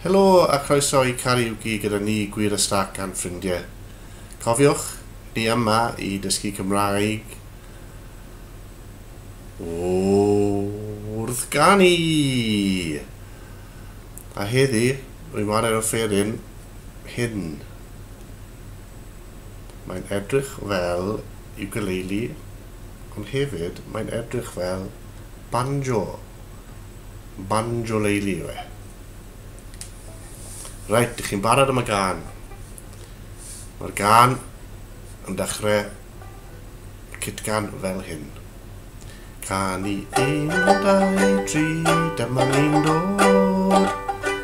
Helo a chroeso i Karaoke gyda ni Gwir a Stac a'n ffrindiau. Cofiwch, ni yma i dysgu Cymraeg wrth ganu! A heddi, rwy'n chwarae'r offeryn hyn. Mae'n edrych fel ukulele, ond hefyd mae'n edrych fel banjo. Banjoleili yw e. Reit, dych chi'n barod am y gan. Mae'r gan yn dechrau cytgan fel hyn. Can i un, dau, tri, dyma ni'n dod.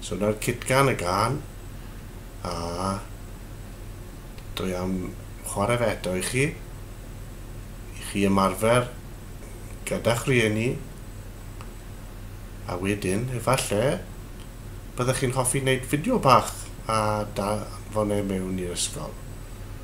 So 'na'r cutgan y gân, a dwi am chwarae fe eto i chi, i chi ymarfer gyda'ch rhieni, a wedyn efallai byddech chi'n hoffi wneud fideo bach a danfon e mewn i'r ysgol.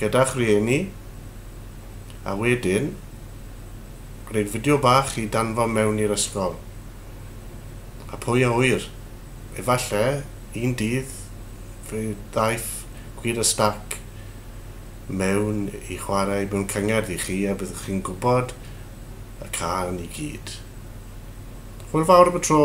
gyda'ch rhieni a wedyn gwneud fideo bach i danfon mewn i'r ysgol. A pwy a ŵyr, efallai un dydd fe ddaeth Gwir y Stac mewn i chwarae mewn cyngerdd i chi a byddwch chi'n gwybod y cân i gyd. Hwyl fawr am y tro!